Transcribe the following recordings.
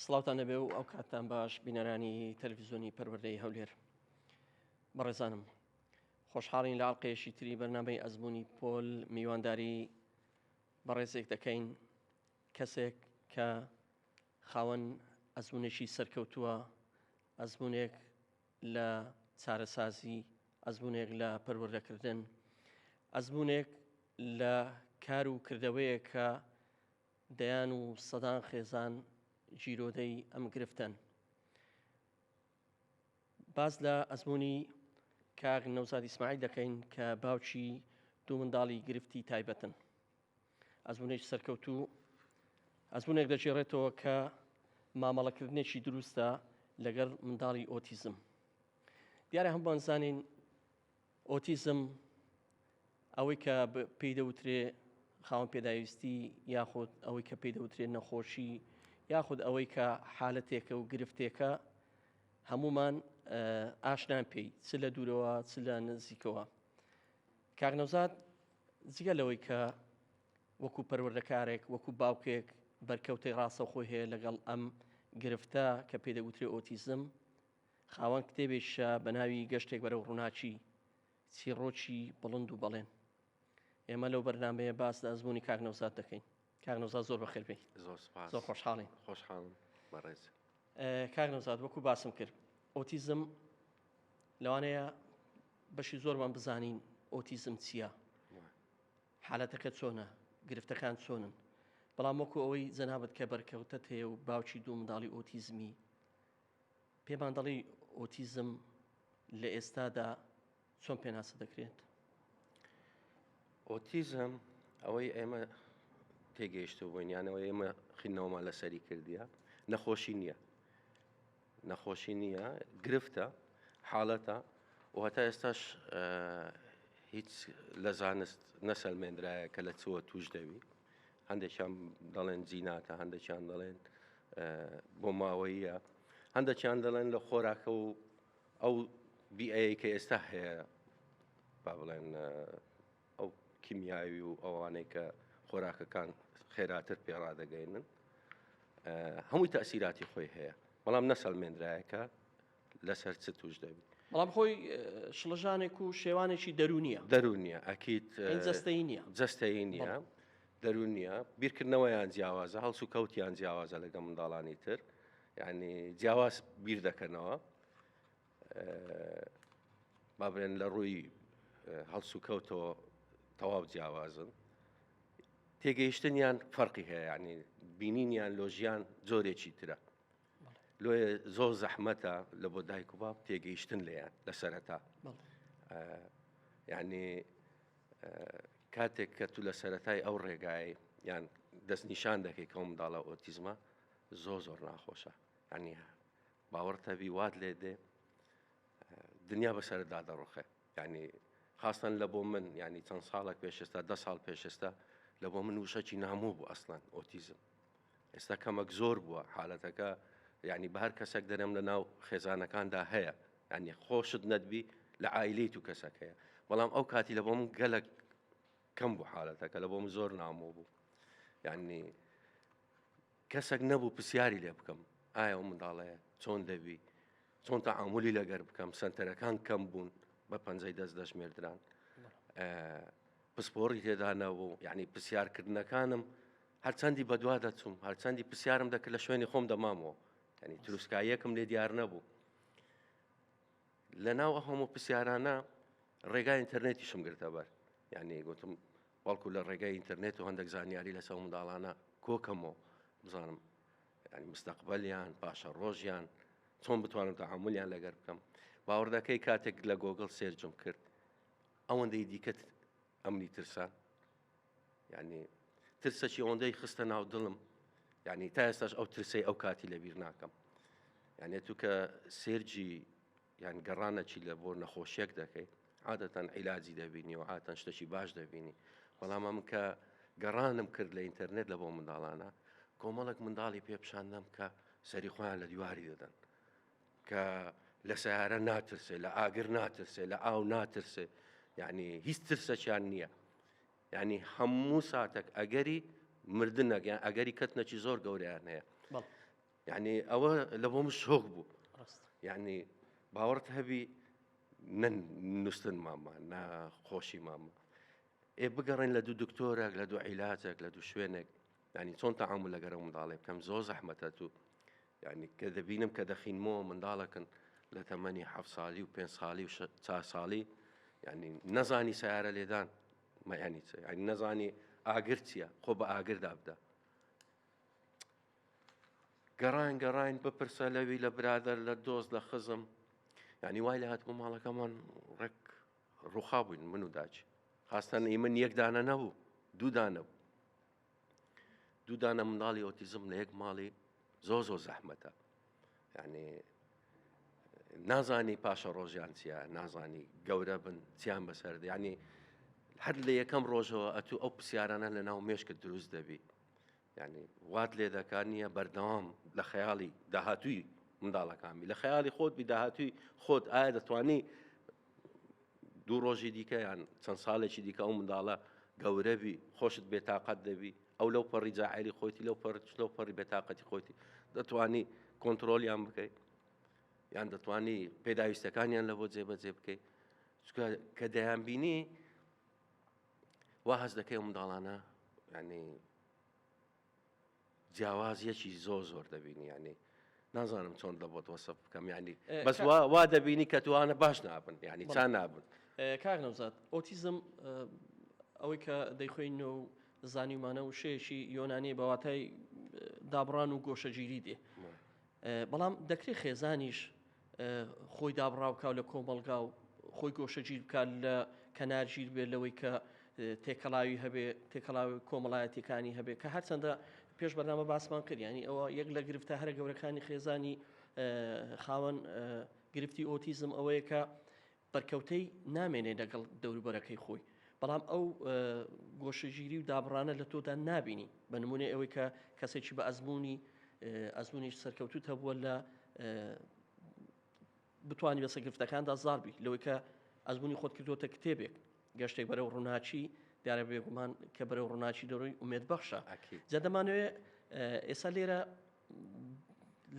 سڵاوتان نەبێ و ئەو کاتتان باش بینەرانی تەلویزیۆنی پەروەردەی هەولێر بەڕێزانم خۆشحاڵین لە ئاڵلقەیەشی تری بەرنمەی ئەزمموی پۆل میوانداری بەڕێزێک دەکەین کەسێک کە خاوەن ئەزمونێکی سەرکەوتووە ئەزمونێک لە چارەسازی، ئەزموونێک لە پەروەردەکردن، ئەزموونێک لە کار و کردەوەیەک کە دەیان و سەدان خێزان گیرۆدەی ئەم گرفتەن. باس لە ئەزموونی کاک نەوزاد ئیسماعیل دەکەین کە باوکی دوو منداڵی گرفتی تایبەتن. ئەزموونێکی سەرکەوتوو ئەزموونێک دەگێڕێتەوە کە مامەڵەکردنێکی دروستە لەگەڵ منداڵی ئۆتیزم دیارە هەمووان زانین ئۆتیزم ئەوەی کە پێی دەوترێ خاوەن پێداویستی یاخود ئەوەی کە پێی دەوترێ نەخۆشی یاخود ئەوەی کە حالەتێکە و گرفتێکە هەمومان ئاشنان پێی چ لە دوورەوە چ لە نزیکەوە کاک نەوزاد جگە لەوەی کە وەکو پەروەردەکارێک، وەکو باوکێک بەرکەوتەی ڕاستەوخۆی هەیە لەگەڵ ئەم گرفتە کە پێی دەگوترێ ئۆتیزم، خاوەن کتێبێکیشە بە ناوی گەشتێک بەرەو ڕووناکی، چیڕۆکی بڵند و بەڵێن. ئێمە لەو بەرنامەیە باس لە ئەزموونی کاک نەوزاد دەکەین. کاک نەوزاد زۆر بەخێر بێی. زۆر سوپاس. زۆر خۆشحاڵین. خۆشحاڵم بەڕێز. کاک نەوزاد وەکو باسم کرد ئۆتیزم لەوانەیە بەشی زۆرمان بزانین ئۆتیزم چییە؟ حالەتەکە چۆنە؟ گرفتەکان چۆنن؟ بەڵام وەکو ئەوەی جەنابەت کە بەرکەوتەت هەیە و باوکی دوو منداڵی ئۆتیزمی پێمان دەڵی ئۆتیزم لە ئێستادا چۆن پێناسە دەکرێت؟ ئۆتیزم ئەوەی ئێمە تێگەیشتو بووین یانەوە ئێمە خینەوەمان لەسەری کردیە نەخۆشی نییە نەخۆشی نییە گرفتە حاڵەتە و هەتا ئێستاش هیچ لە زانست نەسەلمێنرایە کە لە چوە توش دەوی هەندێکیان دەڵێن جیناتە هەندێکیان دەڵێن بۆ ماوەیە هەندێکیان دەڵێن لە خۆراکە و ئەو بیئەیەی کە ئێستا هەیە با بڵێن ئەو کیمیاوی و ئەوانەی کە خۆراکەکان خێراتر پێڕادەگەینن هەمووی تاسیراتی خۆی هەیە بەڵام نەسەلمێنراایەکە لەسەر چ توش دەبی بەڵام خۆی شڵژانێک و شێوانێکی دەرونیە دەرونیە ئەکییت جستەی نیە جستەی نیە دەرونیە بیرکردنەوەیان جیاوازە هەڵسو کەوتیان جیاوازە لەگە منداڵانی تر. یعنی جیاواز بیر دەکەنەوە با بڵێن لە ڕووی هەڵسوکەوتەوە تەواو جیاوازن تێگەیشتنیان فەرقی هەیە ینی بینینیان لۆژیان جۆرێکی ترە لۆ زۆر زەحمەتە لە بۆ دایک و باب تێگەیشتن لێیان لە سەرەتا یعنی کاتێک کە تو لە سەتای ئەو ڕێگای یان دەستنیشان دەکەی کەم داڵە ئۆتیزمە زۆر زۆر ناخۆشە ینی باوەڕتەبی وات لێ دێ دنیا بەسەر دادەڕۆخێ ینی خاستن لە بۆ من ینی چەند ساڵێک پێشستا ده ساڵ پێشستا لە بۆ من وشەکی نامۆ بوو ئەسلان ئۆتیزم ئێستا کەمەک زۆر بووە حالەتەکە ینی بە هەر کەسێک دەرم لە ناو خێزانەکاندا هەیە ینی خۆشت نەدبی لە ئایلی تو کەسەک هەیە بەڵام ئەو کاتی لە بۆ من گەلک کەم بوو حالەتەکە لە بۆ من زۆر نامۆ بوو ینی کەسەک نەبوو پسیاری لێ بکەم ئایا ئەو منداڵەیە چۆن دەبی چۆن تا ئامولی لەگەر بکەم سنتەرەکان کەم بوون بە پەنجەی دەست دەژمێردران پسپۆڕی تێدانەبوو یعنی پرسیارکردنەکانم هەرچەندی بەدوا دەچوم هەرچەندی پرسیارم دەکرد لە شوێنی خۆم دەمامەوە ینی تروسکاییەکم لێ دیار نەبوو لە ناو هەموو پرسیارانە ڕێگای ئینتەرنێتیشم گرتە بەر یعنی گوتم بەڵکو لە ڕێگای ئینتەرنێت و هەندێک زانیاری لەسەو منداڵانە کۆکەم و بزانم ینی مستەقبلیان پاشە ڕۆژیان چۆن بتوانم تەعاملیان لەگەر بکەم باوەڕدەکەی کاتێک لە گۆگل سێرجم کرد ئەوەندەی دیکەت ئەمنی ترسان ینی ترسەکی ئەوەندەی خستە ناو دڵم ینی تا ئێستاش ئەو ترسی ئەو کاتی لەبیر ناکەم یانێت تو کە سێرجی یان گەڕانە چی لە بۆ نەخۆشیەک دەکەی عادەتەن عیلاجی دەبینی و عاتەن شتەکی باش دەبینی بەڵام ئەم کە گەڕانم کرد لە ئینتەرنێت لە بۆ منداڵانە کۆمەڵک منداڵی پێپشاندەم کە سەری خۆیان لە دیواری دەدەن کە لە سیارە ناترسێ لە ئاگر ناترسێ لە ئاو ناترسێ یعنی هیچ ترسەکیان نییە ینی هەموو ساتێک ئەگەری مردنەکەیان ئەگەری کەتنەکی زۆر گەوریان هەیە یعنی ئەوە لە بۆ من شۆک بوو ڕاست یعنی باوەڕت هەبی نە نووسن مامە نە خۆشی مامە ئێ بگەڕێن لە دوو دکتۆرێک لە دوو عیلاتێک لە دوو شوێنێک ینی چۆن تەعامل لەگەرە منداڵێ بکەم زۆر زەحمەتە تو یعنی کە دەبینم کە دەخینمەوە منداڵەکەن لە تەمەنی ح ساڵی و پێ ساڵی و چا ساڵی ینی نەزانی سیارە لێدان مەیانی چ ینی نەزانی ئاگر چییە خۆ بە ئاگردابدا گەڕاین گەڕاین بپرسە لەوی لە برادەر لە دۆست لە خزم یعنی وای لە هاتبوو ماڵەکەمان ڕێک ڕوخا بووین من و داچ خاستان ئی من یەکدانە نەبوو دوودانە بوو دوودانە منداڵی ئۆتیزم لە یەک ماڵی زۆ زۆ زەحمەتە یعنی نازانی پاشە ڕۆژیان چیە نازانی گەورە بن چیان بەسەر ینی هەر لە یەکەم ڕۆژەوە ئەتوو ئەو پرسیارانە لە ناو مێشکە دروست دەبی یانی وات لێ دەکات نییە بەردەوام لە خەیاڵی داهاتووی منداڵەکانبی لە خەیاڵی خۆت بی داهاتووی خۆت ئایا دەتوانی دوو ڕۆژی دیکە یان چەند ساڵێکی دیکە ئەو منداڵە گەورەبی خۆشت بێتاقەت دەبی ئەو لەو پەڕی جاعری خۆتی لەو پەر لەو پەڕی بێتاقەتی خۆتی دەتوانی کۆنتترۆلیان بکەیت یان دەتوانی پێداویستەکانیان لە بۆ جێبەجێ بکەیت کە دەیان بینی وا هەست دەکەی ئەو منداڵانە یعنی جیاوازیەکی زۆ زۆر دەبینی یعنی نازانم چۆن دەبت وەسە بکەم ینی بەس وا دەبینی کە توانە باش نابن ینی چا نابن کاک نەوزات ئۆتیزم ئەوەی کە دەیخۆین و زانیمانە و شەیەکی یۆنانی بەواتای دابڕان و گۆشەگیری دێ بەڵام دەکرێت خێزانیش خۆی دابڕاو بکات لە کۆمەڵگا و خۆی گۆشەگیر بکات لە کەنارگیر بێت لەوەی کە تێکەڵاوی هەبێ تێکەڵاوی کۆمەڵایەتەکانی هەبێت کە هەرچەندە پێش بەنامە باسمان کردیانی ئەوە یەک لە گرفتە هەرە گەورەکانی خێزانی خاوەن گرفتی ئۆتیزم ئەوەیە کە بەرکەوتەی نامێنێ لەگەڵ دەوروبەرەکەی خۆی بەڵام ئەو گۆشەگیری و دابڕانە لە تۆدا نابینی بە نمونێ ئەوەی کە کەسێکی بە ئەزمموی ئەزمونی سەرکەوتوت هەبووە لە بتانی بەسە گفتەکاندا زاربی لەوەی کە ئەزمموی خۆت کردوتە کتێبێک گەشتێک بەرەو ڕووناچی دیارە بێگومان کە بەرەو ڕووناچی دەڕۆی ئومێد بەخشە جە دەمانوێ ئێستا لێرە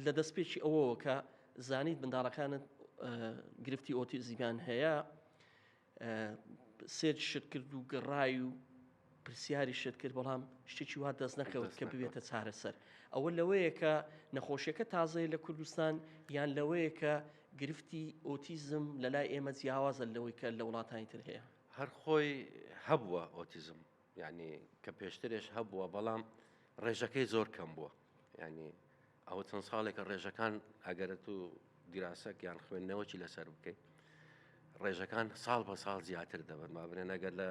لە دەستپێکی ئەوەوە کە زانیت منداڵەکانت گرفتی ئۆتیزیمان هەیە سێر شت کرد و گەڕای و پرسیاری شت کرد بەڵام شتێکی وا دەست نەکەوت کە ببێتە چارەسەر ئەوە لەوەیە کە نەخۆشیەکە تازەیە لە کوردستان یان لەوەیە کە گرفتی ئۆتیزم لەلای ئێمە جیاوازە لەوەی کە لە وڵاتانی تر هەیە هەر خۆی هەبووە ئۆتیزم یانی کە پێشترێش هەبووە بەڵام ڕێژەکەی زۆر کەم بووە ینی ئەوە چەند ساڵێکە ڕێژەکان ئەگەرە تو دیراسەک یان خوێندنەوەی لەسەر بکەیت ڕێژەکان ساڵ بە ساڵ زیاتر دەبن ما بنێن ئەگەر لە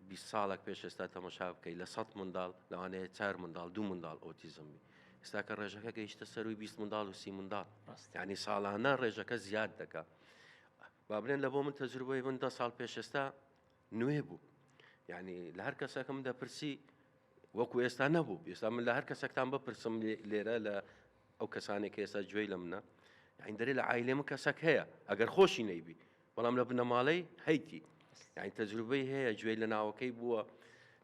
20 ساڵک پێش ئێستا تەمەشا بکەیت لە 100 منداڵ لەوانەیە چار منداڵ دو منداڵ ئۆتیزمبی ئێستا کە ڕێژەکە گەیشتە سەروی 20 منداڵ و سی منداڵ ڕاستانی ساڵانە ڕێژەکە زیاد دەکات بابنێن لە بۆ من تەجروبەی من دە ساڵ پێشێستا نوێ بوو یعنی لە هەر کەسەکەم دەپرسی وەکو ئێستا نەبوو ئێستا من لە هەر کەسەکتان بپرسم لێرە لە ئەو کەسانێک ئێستا گوێی لە منە یعنی دەێ لە ئایلێ من کەسەک هەیە ئەگەر خۆشی نەیبی بەڵام لە بنەماڵەی هەیتی یعنی تەجروبەی هەیە گوێی لە ناوەکەی بووە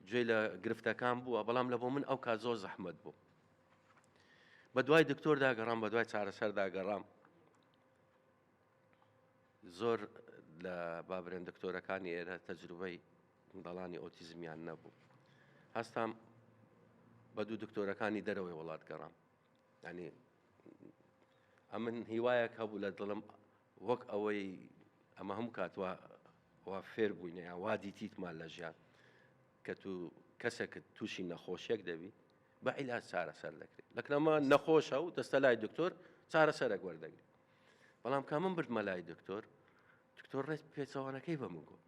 گوێی لە گرفتەکان بووە بەڵام لە بۆ من ئەو کا زۆر زەحمت بوو بە دوای دکتۆر داگەڕام بە دوای چارەسەر داگەڕام زۆر لە بابرێن دکتۆرەکانی ئێرە تەجروبەی منداڵانی ئۆتیزمیان نەبوو هەستام بە دوو دکتۆرەکانی دەرەوەی وڵات گەڕام ینی ئەمن هیوایەک هەبوو لە دڵم وەک ئەوەی ئەمە هەم کاتوە وا فێر بووینە یا وا دیتیتمان لە ژیان کە تو کەسێک تووشی نەخۆشیێک دەبی بە عیلاج چارەسەر دەکرێت لەکنەمە نەخۆشە و دەستە لای دکتۆر چارەسەرێک وەردەگرێت بەڵام کە من بردمە لای دکتۆر دکتۆر ڕێز پێچەوانەکەی بە من گوت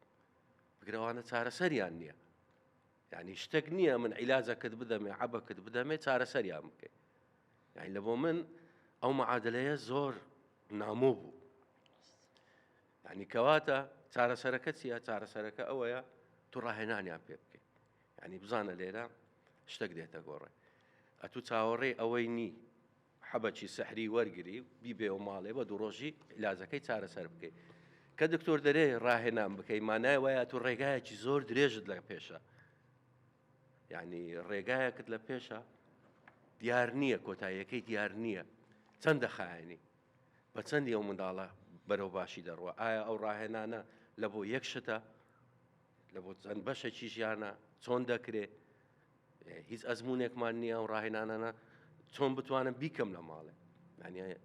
بگرەوانە چارەسەریان نییە یعنی شتێک نییە من عیلاجەکەت بدەمێ عبەکەت بدەمێ چارەسەریان بکەیت یعنی لە بۆ من ئەو معادلەیە زۆر نامۆ بوو یعنی کەواتە چارەسەرەکە چیە چارەسەرەکە ئەوەیە تو ڕاهێنانیان پێ بکەیت یعنی بزانە لێرە شتێک دێتە گۆڕێ ئەتو چاوەڕێ ئەوەی نی حەبەکی سحری وەرگری و بیبەیەوە ماڵێ بە دوو ڕۆژی عیلاجەکەی چارەسەر بکەی. کە دکتۆر دەرێ ڕاهێنان بکەی مانای وایە تۆ ڕێگایەکی زۆر درێژت لە پێشە. یعنی ڕێگایەکت لە پێشە دیار نییە کۆتاییەکەی دیار نییە چەند دەخایەنی بە چەندی ئەو منداڵە بەرەو باشی دەڕوە ئایا ئەو ڕاهێنانە لە بۆ یەک شتە لە بۆ چەند بەشەکی ژیانە چۆن دەکرێ هیچ ئەزمونێکمان نییە ئەو ڕاهێنانانە چۆن بتوانم بیکەم لە ماڵێ ینی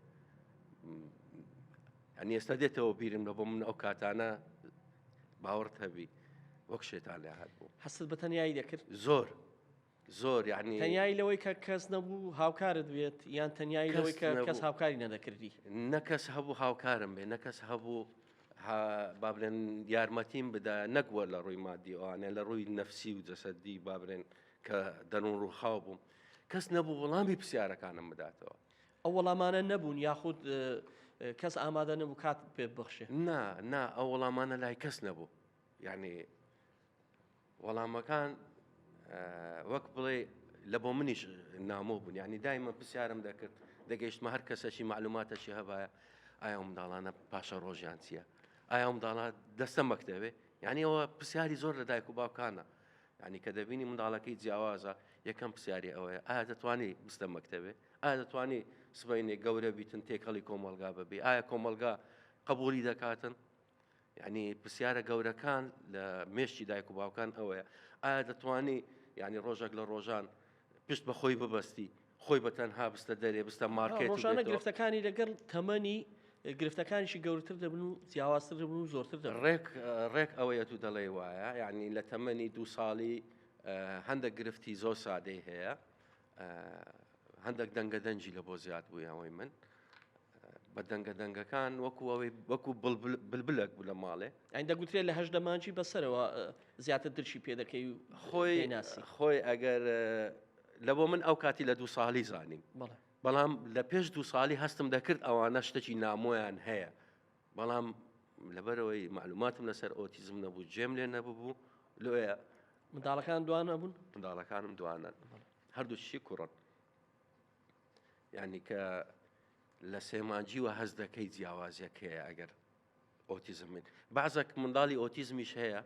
ئەنی ئێستا دێتەوە بیرم لە بۆ من ئەو کاتانە باوەڕت هەبی وەک شێتان لە هەر بوو حەست بە تەنایی دەکرد زۆر زۆر یعنی تەنیایی لەوەی کە کەس نەبوو هاوکارت بێت یان تەنیایی لەوەی کە کەس هاوکاری نەدەکردی نەکەس هەبوو هاوکارم بێ نەکەس هەبوو بابرێن یارمەتیم بدا نەگووە لە ڕووی مادیوانە لە ڕووی نەفسی و جەسەدی بابرێن کە دەنون ڕووخاو بووم کەس نەبوو وەڵامی پرسیارەکانم بداتەوە ئەو وەڵامانە نەبوون یاخود کەس ئامادە نەبوو کات پێ بخشێ نا نا ئەو وەڵامانە لای کەس نەبوو یعنی وەڵامەکان وەک بڵێ لە بۆ منیش نامۆ بوون یعنی دایمە پرسیارم دەکرد دەگەیشتمە هەر کەسەشی معلوماتەشی هەبایە ئایا ئەو منداڵانە پاشە ڕۆژیان چییە ئایا ئەو منداڵە دەستە مەکتەوێ یعنی ئەوە پرسیاری زۆر لە دایک و باوکانە ینی کە دەبینی منداڵەکەی جیاوازە یەکەم پرسیاری ئەوەیە ئایا دەتوانانی بستە مەکتەوێ ئایا دەتوانانی سبینێ گەورە بیتن تێکەڵی کۆمەلگا ببی ئایا کۆمەلگا قبولی دەکاتن یانی پرسیارە گەورەکان لە مێشکی دایک و باوکان ئەوەیە ئایا دەتوانی یانی ڕۆژێک لە ڕۆژان پشت بە خۆی ببەستی خۆی بە تەنها بستە دەرێ بستە مارکێت ڕۆژانە گرفتەکانی لەگەڵ تەمەنی گرفتەکانیشی گەورتر دەبن و جیاوازتر دەبن و زۆرتر دەبن ڕێک ڕێک ئەوەیە تو دەڵێ وایە یعنی لە تەمەنی دو ساڵی هەندە گرفتی زۆر سادەی هەیە هەندەک دەنگە دەنجی لە بۆ زیاد بووی ئەوەی من بە دەنگە دەنگەکان وەکو ئەوەی وەکو بلبلەک بوو لە ماڵێ ئەین دەگوترێت لە هەش دەمانجی بەسەرەوە زیاتر درشی پێ دەکەی و خۆی ناسی خۆی ئەگەر لە بۆ من ئەو کاتی لە دوو ساڵی زانیم بەڵام لە پێش دوو ساڵی هەستم دەکرد ئەوانە شتەکی نامۆیان هەیە بەڵام لەبەرئەوەی مەعلوماتم لەسەر ئۆتیزم نەبوو جێم لێ نەببوو لۆیە منداڵەکان دوانە بوون منداڵەکانم دوانە هەردووچی کوڕن یعنی کە لە سێمانجیوە هەز دەکەی جیاوازیەکەیە ئەگەر ئۆتیزمین بازەک منداڵی ئۆتیزمیش هەیە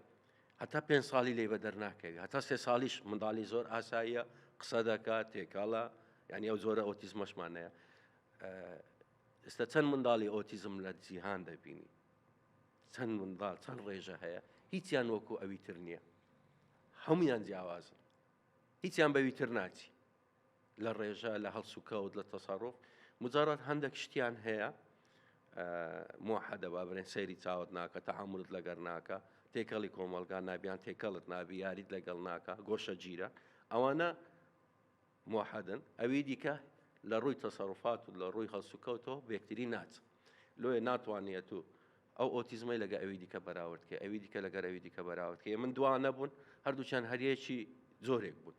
هەتا پێ ساڵی لی بە دەرناکەوی هەتا سێ ساڵیش منداڵی زۆر ئاساییە قسە دەکات تێکاڵە یعنی ئەو زۆرە ئۆتیزمەشمانەیە ئێستا چەند منداڵی ئۆتیزم لە جیهان دەبینی چەند منداڵ چەند ڕێژە هەیە هیچیان وەکو ئەوی تر نییە هەمویان جیاوازن هیچیان بەوی تر ناچی لە ڕێژە لە هەڵسوکەوت لە تەسەڕۆف مجارات هەندێک شتیان هەیە مۆحەدەبا برێن سەیری چاوت ناکە تەعاملت لەگەر ناکە تێکەڵی کۆمەلگا نابیان تێکەڵت نابی یاریت لەگەڵ ناکە گۆشە گیرە ئەوانە موحدن، ئەوی دیکە لە ڕووی تەسەروفات و لە ڕووی هەڵسوکەوتەوە بێکتری ناچ لۆیە ناتوانیە تو ئەو ئۆتیزمەی لەگە ئەوی دیکە بەراورد کەی ئەوی دیکە لەگەر ئەوی دیکە بەراورد کەی من دوا نەبوون هەردووچان هەریەکی جۆرێک بوون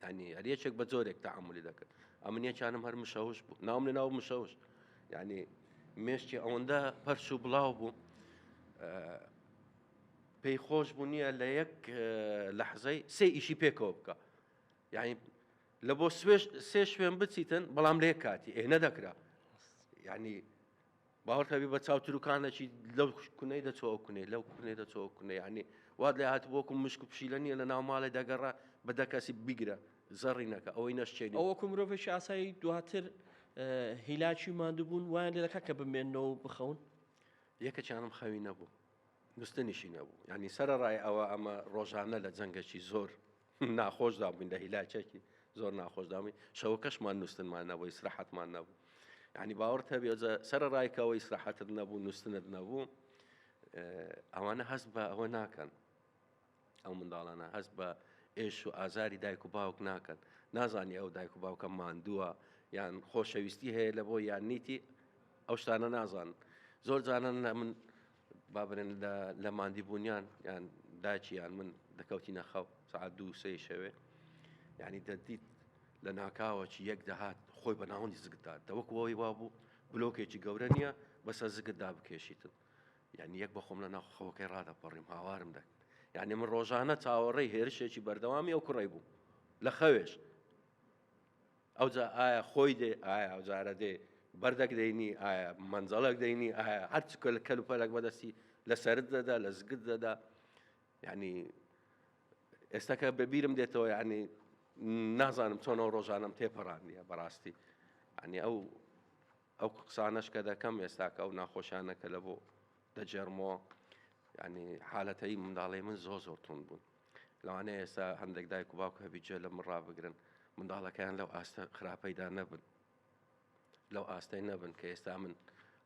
ینی هەریەکێک بە جۆرێک تەعاملی دەکرد ئەمن یەکیانم هەر مشەوش بوو ناوم لە ناو مشەوش ینی مێشتی ئەوەندە پەرش و بڵاو بوو پێی خۆش بوو نییە لە یەک لەحزەی سێ ئیشی پێکەوە بکە یعنی لە بۆ سوێش سێ شوێن بچیتن بەڵام لێ کاتی ئێ نەدەکرا یعنی باوەڕکەبی بە چاوتروکانەکی لەو کونەی دەچۆ کونێ لەو کونێ دەچۆ کونێ ینی وات لە هات بۆکم مشک و پشیلە نیە لە ناو ماڵێ دەگەڕە بە دەکەسی بیگرە زەڕینەکە ئەوەی نەشتێنی ئەوەکو مرۆڤێکی ئاسایی دواتر هیلاکی مادوبوون وایان لێ دەکات کە بمێنەوە بخەون یەکەچانم خەوی نەبوو گوستنیشی نەبوو یعنی سەرەڕای ئەوە ئەمە ڕۆژانە لە جەنگەکی زۆر ناخۆشدا بووین لە هیلاکێکی زۆر ناخۆشدا بووین شەوەکەشمان نووسنمان نەبوو ئیسراحەتمان نەبوو یعنی باوەڕ هەبێ سەرەڕایکەوە ئیسراحەتت نەبوو نووسنت نەبوو ئەوانە هەست بە ئەوە ناکەن ئەو منداڵانە هەست بە ئێش و ئازاری دایک و باوک ناکەن نازانی ئەو دایک و باوکە ماندووە یان خۆشەویستی هەیە لە بۆ یان نیتی ئەو شتانە نازان زۆر جانان لە من بابرێن لە ماندی بوونیان یان داچیان من دەکەوتی نەخەو سعات دوو سێ شەوێ یعنی دەدیت لە ناکاوەکی یەک دەهات خۆی بە ناوەندی زگدا دەوەک وەوەی وابوو بلۆکێکی گەورە نییە بەسە زگدا بکێشیتن یانی یەک بە خۆم لە ناخ خەوەکەی ڕادەپەڕیم هاوارم دەک یعنی من ڕۆژانە چاوەڕێی هێرشێکی بەردەوامی ئەو کوڕی بوو لە خەوێش ئەوجا ئایا خۆی دێ ئایا ئەوجارە دێ بەردەک دەینی ئایا منجەڵک دەینی ئایا هەرچ کەل کەل و پەلک بەدەستی لە سرد دەدا لە زگت دەدا یعنی ئێستاکە بەبیرم دێتەوە یعنی نازانم چۆنەوە ڕۆژانم تێپەڕاندە بەڕاستی ئەنی ئەو ئەو قسانەش کە دەکەم ئێستا کە ئەو ناخۆشانە کە لە بۆ دەجێڕمەوە ینی حالەتەی منداڵی من زۆ زۆر تون بوون لەوانەیە ئێستا هەندێک دایک و باوک هەبی جێ لە من ڕابگرن منداڵەکەیان لەو ئاستە خراپەیدا نەبن لەو ئاستەی نەبن کە ئێستا من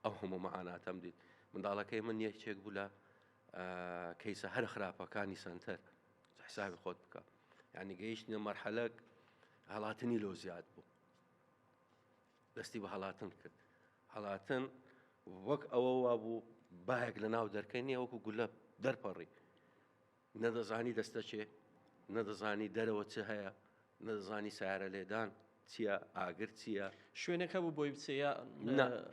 ئەو هەموو مەعاناتەم دیت منداڵەکەی من یەکێک بوو لە کەیسە هەر خراپەکانی سنتەر حسابی خۆت بکە ینی گەیشتە مەرحەلەک هەڵاتنی لۆ زیاد بوو دەستی بە هەڵاتن کرد. هەڵاتن وەک ئەوە وابوو باەک لە ناو دەرکەی نیە وەکو گولە دەرپەڕی. نەدەزانی دەستە چێ، نەدەزانی دەرەوە چ هەیە، نەدەزانی سارە لێدان چییە، ئاگر چییە، شوێنێک هەبوو بۆی بچێ یا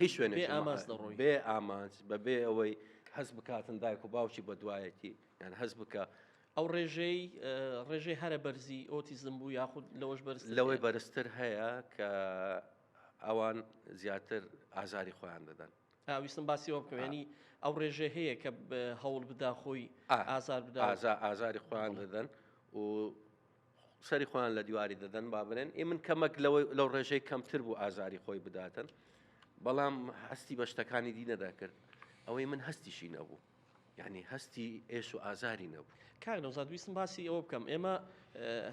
هیچ شوێنێ ئاماز دەڕۆی بێ ئامانج بەبێ ئەوەی هەست بکاتن دایک و باوکی بە دوایەتی یان هەست بکە. ئەو ڕێژەی ڕێژەی هەرە بەرزی ئۆتیزم بوو یاخود لەوەش بەرز لەوەی بەرزتر هەیە کە ئەوان زیاتر ئازاری خۆیان دەدەن ویستم باسیەوە بکەێنی ئەو ڕێژێ هەیە کە هەوڵ بدا خۆی ئازار بدا ئازا ئازاری خۆیان دەدەن و سەری خۆیان لە دیواری دەدەن با برێن ئێ من کەمەک لەوەی لەو ڕێژەی کەمتر بوو ئازاری خۆی بداتن بەڵام هەستی بە شتەکانی دی نەدەکرد ئەوەی من هەستیشی نەبوو یانی هەستی ئێش و ئازاری نەبوو. کاک نەوزاد ویستم باسی ئەوە بکەم ئێمە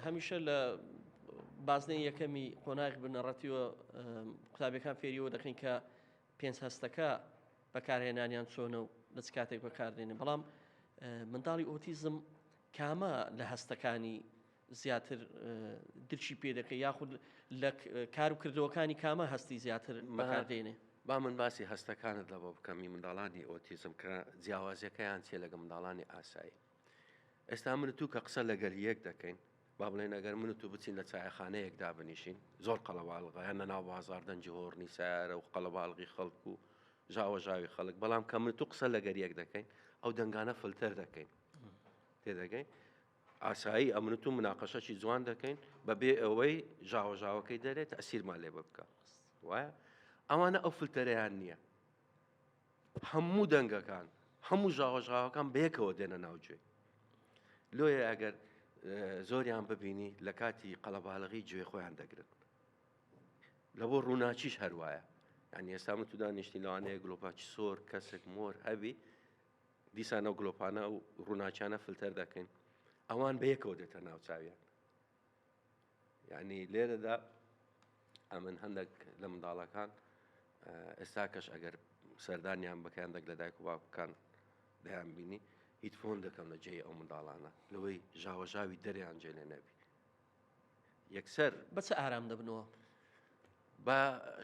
هەمیشە لە بازنەی یەکەمی قۆناغی بنەڕەتیوە قوتابیەکان فێریەوە دەکەین کە پێنج هەستەکە بەکارهێنانیان چۆنە و لە چ کاتێک بەکاردێنێ بەڵام منداڵی ئۆتیزم کامە لە هەستەکانی زیاتر درکی پێ دەکەی یاخود لە کار و کردەوەکانی کامە هەستی زیاتر بەکار دێنێ؟ با من باسی هەستەکانت لەوە بکەم ی منداڵانی ئۆتیزم کە جیاوازیەکەیان چیە لەگەڵ منداڵانی ئاسایی ئێستا من و تو کە قسە لەگەل یەک دەکەین با بڵێن ئەگەر من و تو بچین لە چایەخانەیەک دابنیشین زۆر قەڵەباڵغە یان لەناو بازاڕ دەنگی هۆڕنی سەیارە و قەڵەباڵغی خەڵک و ژاوەژاوی خەڵک بەڵام کە من و تو قسە لەگەر یەک دەکەین ئەو دەنگانە فلتەر دەکەین تێدەگەی ئاسایی ئەمنت و مناقەشەکی جوان دەکەین بەبێ ئەوەی ژاوە ژاوەکەی دەرێت تەسیرمان لێ بکە وایە ئەوانە ئەو فلتەرەیان نییە هەموو دەنگەکان هەموو ژاوە ژاوەکان بەیەکەوە دێنە ناوجێ لۆیە ئەگەر زۆریان ببینی لە کاتی قەڵەباڵغی گوێ خۆیان دەگرن لە بۆ ڕووناچیش هەروایە یعنی ئێستا من تودا نیشتی لەوانەیە گلۆپاچی سۆر کەسێک مۆر هەبی دیسان ئەو گلۆپانە و ڕووناکیانە فلتەر دەکەین ئەوان بە یەکەوە دێتە ناوچویان یعنی لێرەدا ئەمن هەندێک لە منداڵەکان ئێستا کەش ئەگەر سەردانیان بەکەیان دەک لە دایک و باوکەکان دەیان بینی هیچ فۆن دەکەم لە جێی ئەو منداڵانە لەوەی ژاوەژاوی دەریان جێ لێ نەبی یەکسەر. بە چ ئارام دەبنەوە؟ بە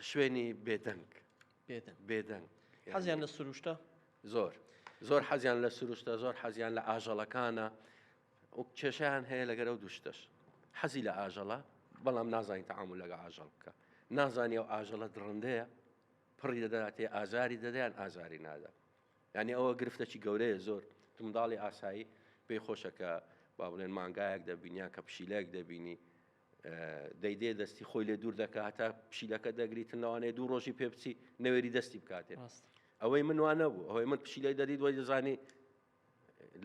شوێنی بێدەنگ. بێدەنگ. بێدەنگ. حەزیان لە سروشتە؟ زۆر. زۆر حەزیان لە سروشتە، زۆر حەزیان لە ئاژەڵەکانە. و کێشیان هەیە لەگەرە و دوشتەش. حەزی لە ئاژەڵە، بەڵام نازانین تەعامول لەگە ئاژەڵ بکە. نازانیە و ئاژەڵە دڕندەیە، پڕی دەداتێ ئازاری دەدەیان ئازاری نادە. یانی ئەوە گرفتەکی گەورەیە زۆر منداڵی ئاسایی پێی خۆشە کە با بڵێن مانگایەک دەبینیان کە پشیلەیەک دەبینی دەیدێ دەستی خۆی لێ دوور دەکە هەتا پشیلەکە دەگریتن لەوانەیە دوو ڕۆژی پێ بچی نەوێری دەستی بکاتێ ئەوەی من وانە بوو ئەوەی من پشیلەی دەدیت وای دەزانی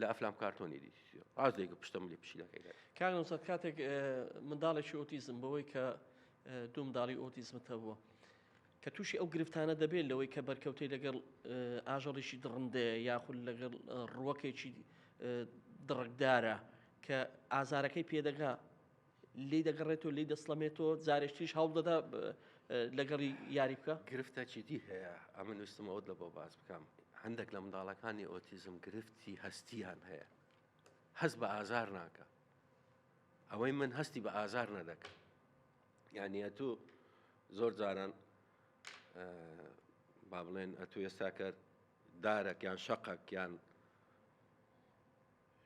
لە ئەفلام کارتۆنی دی ڕاست دەیکە پشتم لی پشیلەکەی کاگەسە کاتێک منداڵێکی ئۆتیزم بەوەی کە دوو منداڵی ئۆتیزمتە بووە کە تووشی ئەو گرفتانە دەبێت لەوەی کە بەرکەوتەی لەگەڵ ئاژەڵیکی دڕندەیە یاخود لەگەڵ ڕووەکێکی دڕکدارە کە ئازارەکەی پێدەگا لی دەگەڕێتەوە لی دەسڵەمێتەوە جارێکتریش هەڵدەدا لەگەڵی یاری بکە گرفتە چیدی هەیە ئەمە نووسمەوەت لە بۆ باز بکەم هەندێک لە منداڵەکانی ئۆتیزم گرفتی هەستیان هەیە هەست بە ئازار ناکە ئەوەی من هەستی بە ئازار نەدەکە یانی ئەتوو زۆر جاران با بڵێن ئەتوو ئێستا کە دارەک یان شەقەک یان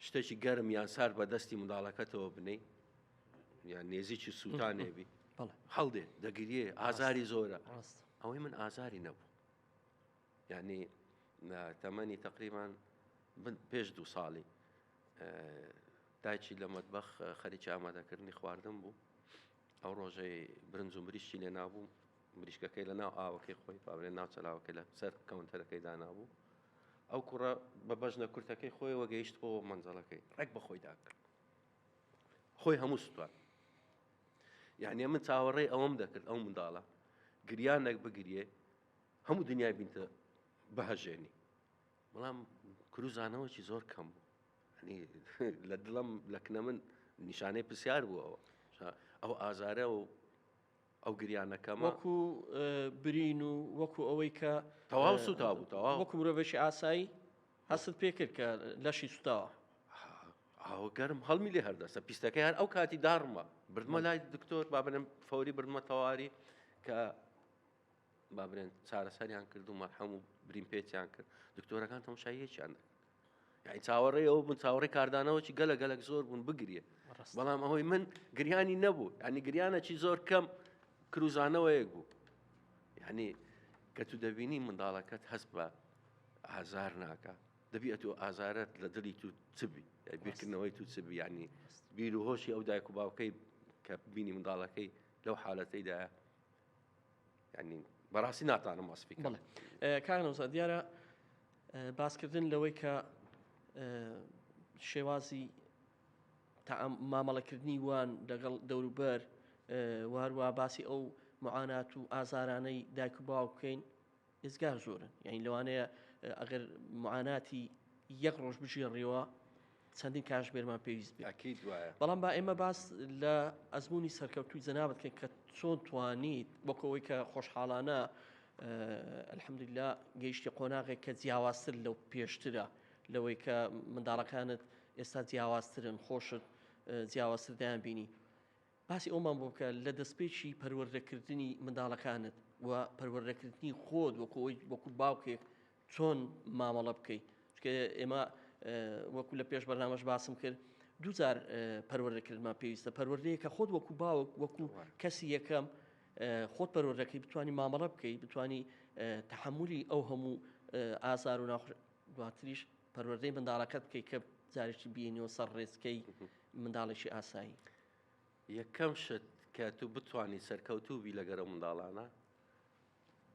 شتێکی گەرم یان سار بە دەستی منداڵەکەتەوە بنەی یان نێزیی سووتانێبی هەڵدێ دەگریێ ئازاری زۆرە ئەوەی من ئازاری نەبوو یانی لە تەمەنی تەقریبان پێش دوو ساڵی دایکی لە مەتبەخ خەریکی ئامادەکردنی خواردن بوو ئەو ڕۆژەی برنج و مریشی لێ نابوو مریشکەکەی لە ناو ئاوەکەی خۆی پاورێ ناوچەلاوەکە لە سەر کەونتەرەکەی دانابوو ئەو کوڕە بە بەژنە کورتەکەی خۆی وەگەیشت بۆ منزڵەکەی ڕێک بە خۆی داکرد خۆی هەموو سوپات یعنی من چاوەڕێ ئەوەم دەکرد ئەو منداڵە گریانێک بگریێ هەموو دنیای بینتە بەهەژێنی بەڵام کروزانەوەکی زۆر کەم بوو لە دڵم لە کنە من نیشانەی پرسیار بوو ئەوە ئەو ئازارە و ئەو گریانەکەم وەکو برین و وەکو ئەوەی کە تەواو سوتا بوو تەوا وەکو مرۆڤێکی ئاسایی هەستت پێکرد کە لەشی سوتاوە ئەو گەرم هەڵمی لێ هەردەسە پیستەکەیان ئەو کاتی داڕمە بردمە لای دکتۆر بابنم فەوری بردمە تەواری کە با برێن چارەسەریان کرد و مەرحەم و برین پێچیان کرد دکتۆرەکان تەمشاییەکیان دەکرد یعنی چاوەڕێ ئەو بن چاوەڕێ کاردانەوەی گەلە گەلک زۆر بوون بگریە بەڵام ئەوەی من گریانی نەبوو ینی گریانەکی زۆر کەم کروزانەوەیەک بوو یعنی کە تو دەبینی منداڵەکەت هەست بە ئازار ناکە دەبیە تۆ ئازارت لە دڵی تو چبی بیرکردنەوەی تو چبی ینی بیر و هۆشی ئەو دایک و باوکەی کە بینی منداڵەکەی لەو حالەتەیدا بەڕاستی ناتانم وەسپی بڵێ کارنەوزا دیارە باسکردن لەوەی کە شێوازی مامەڵەکردنی وان لەگەڵ دەوروبەر واروا باسی ئەو معانات و ئازارانەی دایک و باو بکەین ئێجگار زۆرن یعنی لەوانەیە ئەگەر معاناتی یەک ڕۆژ بژێڕیەوە چەندین کاشبێرمان پێویست بێکیت وایە بەڵام با ئێمە باس لە ئەزمموی سەرکەوتوی جەنابەت کە کە چۆن توانیت وەکەوەی کە خۆشحاڵانە ئەلحەمدللا گەیشتی قۆناغێک کە جیاوازتر لەو پێشترە لەوەی کە منداڵەکانت ئێستا جیاوازترن خۆشت جیاوازتر دەیان بینی باسی ئەوەمان بۆ بکە لە دەستپێکی پەروەردەکردنی منداڵەکانت و پەروەردەکردنی خۆت وەکو ئەوی وەکو باوکێک چۆن مامەڵە بکەی چکە ئێمە وەکو لە پێش بەرنامەش باسم کرد دووجار پەروەردەکردمان پێویستە پەروەردەیە کە خۆت وەکو باوک وەکو کەسی یەکەم خۆت پەروەردەکەی بتانی مامەڵە بکەی بتانی تحملی ئەو هەموو ئازار و ناخ دواتریش پەروەردەی منداڵەکەت بکەی کە جارێکی بینیەوە سەر ڕێزکەی منداڵێکی ئاسایی یەکەم شت کە تو بتانی سەرکەوتوو بی لەگەرە منداڵانە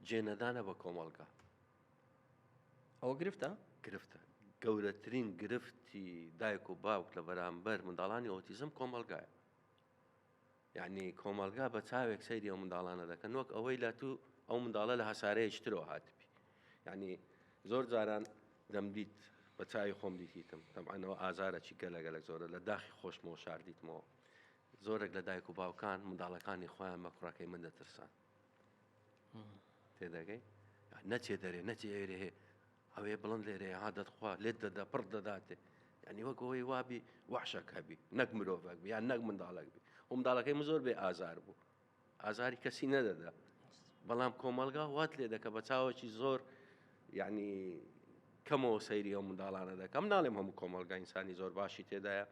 جێنەدانە بە کۆمەڵگا ئەوە گرفتە گرفتە گەورەترین گرفتی دایک و باوک لە بەرامبەر منداڵانی ئۆتیزم کۆمەلگایە یەعنی کۆمەڵگا بە چاوێک سەیری ئەو منداڵانە دەکەن وەک ئەوەی لە تو ئەو منداڵە لە هەسارەیەکی ترەوە هاتبی یەعنی زۆر جاران دەمدیت بە چاوی خۆم دیتیتم تەبعەنەوە ئازارەکی گەلەگەلەک زۆرە لە داخی خۆشمەوە شاردیتمەوە زۆرێک لە دایک و باوکان منداڵەکانی خۆیان بە کوڕەکەی من دەترسان تێدەگەی نەچێ دەرێ نەچێ ئێرێ ئەوێ بڵند لێرەیە ها دەتخوا لێت دەدا پڕت دەداتێ یعنی وەک ئەوەی وابی وەحشەک هەبی نەک مرۆڤەک بی یان نەک منداڵک بی و منداڵەکەی من زۆر بێ ئازار بوو ئازاری کەسی نەدەدا بەڵام کۆمەلگا وات لێ دەکە بە چاوەکی زۆر یعنی کەمەوە سەیری ئەو منداڵانە دەکەم ناڵێم هەموو کۆمەلگا ئینسانی زۆر باشی تێدایە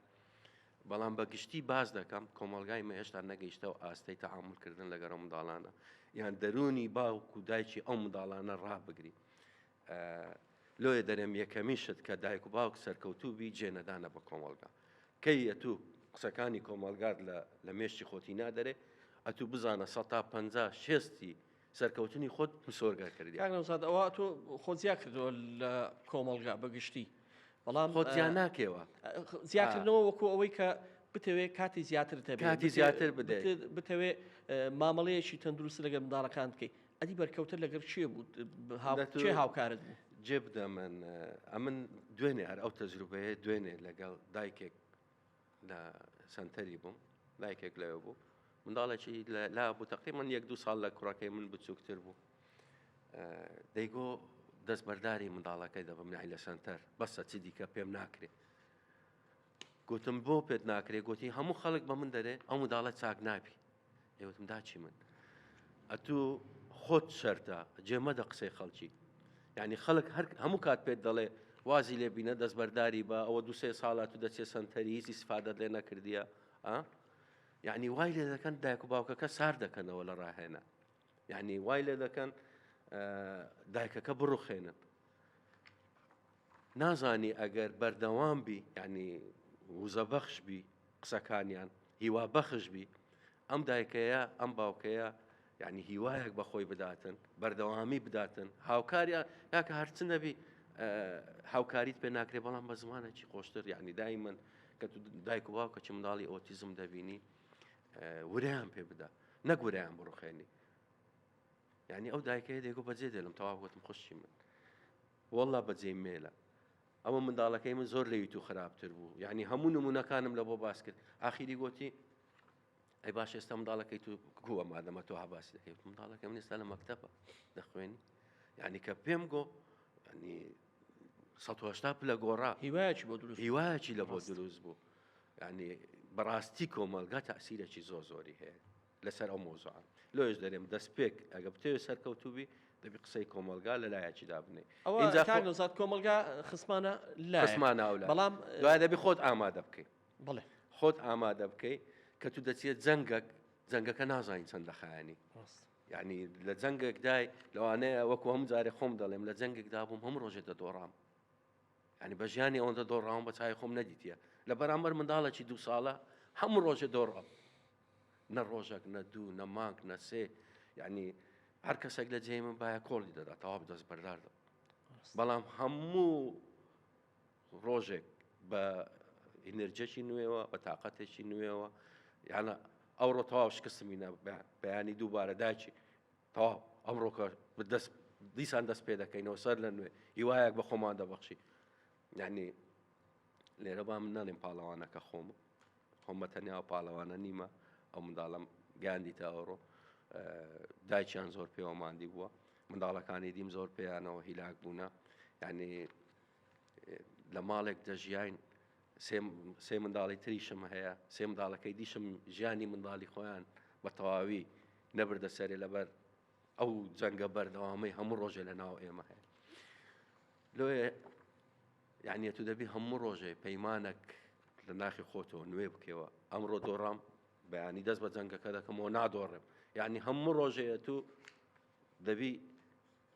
بەڵام بە گشتی باز دەکەم کۆمەلگای مە هێشتا نەگەیشتەوە ئاستەی تەعاملکردن لەگەرە منداڵانە یان دەرونی باوک و دایکی ئەو منداڵانە ڕابگری لۆیە دەرێم یەکەمین شت کە دایک و باوک سەرکەوتوو بی جێنەدانە بە کۆمەڵگا کەی ئەتوو قسەکانی کۆمەلگات لە مێشتی خۆتی نادەرێ ئەتوو بزانە سە تا پ شێستی سەرکەوتنی خۆت مسۆرگە کردی یانەوزاد ئەوە تۆ خۆزیا کردەوە لە کۆمەلگا بەگشتی بەڵام خۆزیان ناکەوە زیاکردنەوە وەکو ئەوەی کە بتەوێ کاتی زیاتر تەبێتی زیاتر بدەێت بتەوێ مامەڵەیەکی تەندروست لەگە منداڵەکان بکەیت ئەدی بەرکەوتە لەگەر چێ بوو چێ هاوکارت بوو جێ بدە من ئەمن دوێنێ هەر ئەو تەجروبەیە دوێنێ لەگەڵ دایکێک لە سنتەری بووم دایکێک لەوێ بوو منداڵێکی لا بوو تەقی من یەک دوو ساڵ لە کوڕەکەی من بچووکتر بوو دەیگۆ دەستبەرداری منداڵەکەی دەبم نای لە سنتەر بەسە چی دیکە پێم ناکرێت گوتم بۆ پێت ناکرێ گوتی هەموو خەڵک بە من دەرێ ئەو منداڵە چاک نابی ئێوتم داچی من ئەتوو خۆت شەرتە جێمەدە قسەی خەڵکی یعنی خەڵک هەر هەموو کات پێت دەڵێ وازی لێبینە دەستبەرداری بە ئەوە دوسێ ساڵات و دەچێت سنتەری هیچی سفادت لێ نەکردیە ئە یعنی وای لێ دەکەن دایک و باوکەکە سار دەکەنەوە لە ڕاهێنە یعنی وای لێ دەکەن دایکەکە بڕوخێنن نازانی ئەگەر بەردەوام بی یانی وزە بەخش بی قسەکانیان هیوا بەخش بی ئەم دایکەیە ئەم باوکەیە یعنی هیوایەک بەخۆی بداتن بەردەوامی بداتن هاوکاریان یاکە هەرچ نەبی هاوکاریت پێ ناکرێ بەڵام بە زمانێکی خۆشتر یعنی دای من کە دایک و باوکە چ منداڵی ئۆتیزم دەبینی وریان پێ بدا نەگوریان بڕخێنی یعنی ئەو دایکەیە دێگو بەجێ دێلم تەواو گوتم خوشی من وەڵڵا بەجێی مێلە ئەوە منداڵەکەی من زۆر لەوی تو خراپتر بوو یعنی هەموو نمونونەکانم لە بۆ باس کرد ئاخیری گۆتی ئەی باش ئێستا منداڵەکەی تو گووە مادەمە تۆ هەباسی دەکەی منداڵەکە من ئێستا لە مەکتەبە دەخوێنی یعنی کە پێم گۆ ینی 1970 پلە گۆڕا هیواچ بۆ دروست هیواچی لە بۆ دروست بوو ینی بەڕاستی کۆمەلگا تاسیرەی زۆ زۆری هەیە لەسەر ئەو مەوزوعە لۆیش دەرێم دەستپێک ئەگە بتەوێت سەرکەوتوبی دەبی قسەی کۆمەلگا لە لایەکی دابنێ ئەوزات کۆمەلگا خسمانە لاسمانە ئەو بەڵام دوای دەبی خۆت ئامادە بکەیت بڵێ خۆت ئامادە بکەیت کە تو دەچێت جەنگەک جەنگەکە نازانین چەند لە خایانی یعنی لە جەنگێکدای لەوانەیە وەکو هەم جارێ خۆم دەڵێم لە جەنگێکدا بووم هەم ڕۆژێ دەدۆڕام ینی بە ژیانی ئەوەندە دۆڕاوم بە چای خۆم نەدیتە لە بەرامبەر منداڵێکی دوو ساڵە هەموو ڕۆژێ دۆڕام نە ڕۆژەک نە دوو نە مانگ نە سێ یعنی هەر کەسێک لە جێی من باە کۆڵی دەدا تەواو دەست بەرداردە بەڵام هەموو ڕۆژێک بە ئینرجەکی نوێەوە بە تااقەتێکی نوێەوە یانە ئەوڕۆ تەواو شکستمینە بەیانی دووبارە داچی تەواو ئەمڕۆکە دەست دیسان دەست پێ دەکەینەوە سەر لە نوێ هیوایەک بە خۆمان دەبەخشی یعنی لێرە با من نەڵێم پاڵەوانەکە خۆمە خۆم بە تەنیا و پاڵەوانە نیمە ئەو منداڵم گاندی تاوەڕۆ دایکیان زۆر پێوە مادی بووە منداڵەکانی دیم زۆر پێیانەوە هیلاک بوونە یعنی لە ماڵێک دەژیاین سێ منداڵی تریشم هەیە سێ منداڵەکەی دیشم ژیانی منداڵی خۆیان بە تەواوی نەبردە سەرێ لەبەر ئەو جەنگە بەردەوامەی هەموو ڕۆژێ لە ناو ئێمە هەیە لۆێ یەعنی تو دەبی هەموو ڕۆژێ پەیمانەک لە ناخی خۆتەوە نوێ بکەوە ئەمڕۆ دۆڕام بەیانی دەست بە جەنگەکە دەکەمەوە نادۆڕێم یعنی هەموو ڕۆژەیە تو دەبی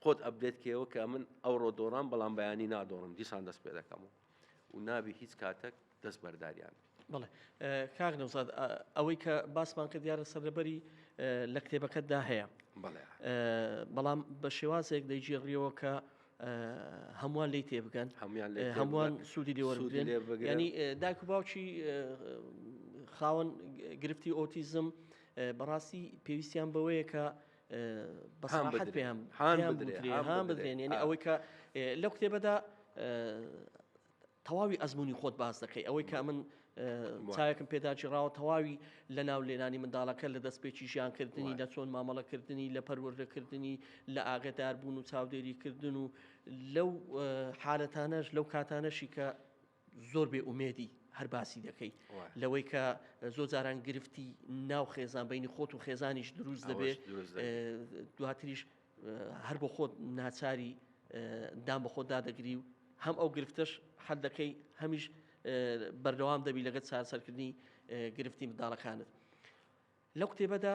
خۆت ئەبدێت کێەوە کە من ئەوڕۆ دۆڕام بەڵام بەیانی نادۆڕم دیسان دەست پێ دەکەمەوە و نابی هیچ کاتەک دەست بەرداریان بی بەڵێ کاک نەوزاد ئەوەی کە باسمان کە دیارە سەرلەبەری لە کتێبەکەتدا هەیە بەڵام بە شێوازێک دەیگیێڕیەوە کە هەمووان لی تێبگەن هەموان هەمووان سوودی لێوەرگرێن ینی داکو باوکی خاوەن گرفتی ئۆتیزم بەڕاستی پێویستیان بەوەیە کە بەسەحەت پێیان هاان بدرێن هاان بدرێن ینی ئەوەی کە لەو کتێبەدا تەواوی ئەزموونی خۆت باس دەکەی ئەوەی کە من چاوێکم پێدا گیڕاوە تەواوی لە ناو لێنانی منداڵەکە لە دەست پێکی ژیانکردنی لە چۆن مامەڵەکردنی لە پەروەردەکردنی لە ئاگداربوون و چاودێریکردن و لەو حالەتانەش لەو کاتانەشی کە زۆر بێ ئومێدی هەر باسی دەکەی لەوەی کە زۆر جاران گرفتی ناو خێزان بینی خۆت و خێزانیش دروست دەبێت دواتریش هەر بۆ خۆت ناچاری دان بە خۆت دادەگری و هەم ئەو گرفتەش حەل دەکەی هەمیش بەردەوام دەبی لەگەت چارسەرکردنی گرفتی منداڵەکانت لە کتێبەدا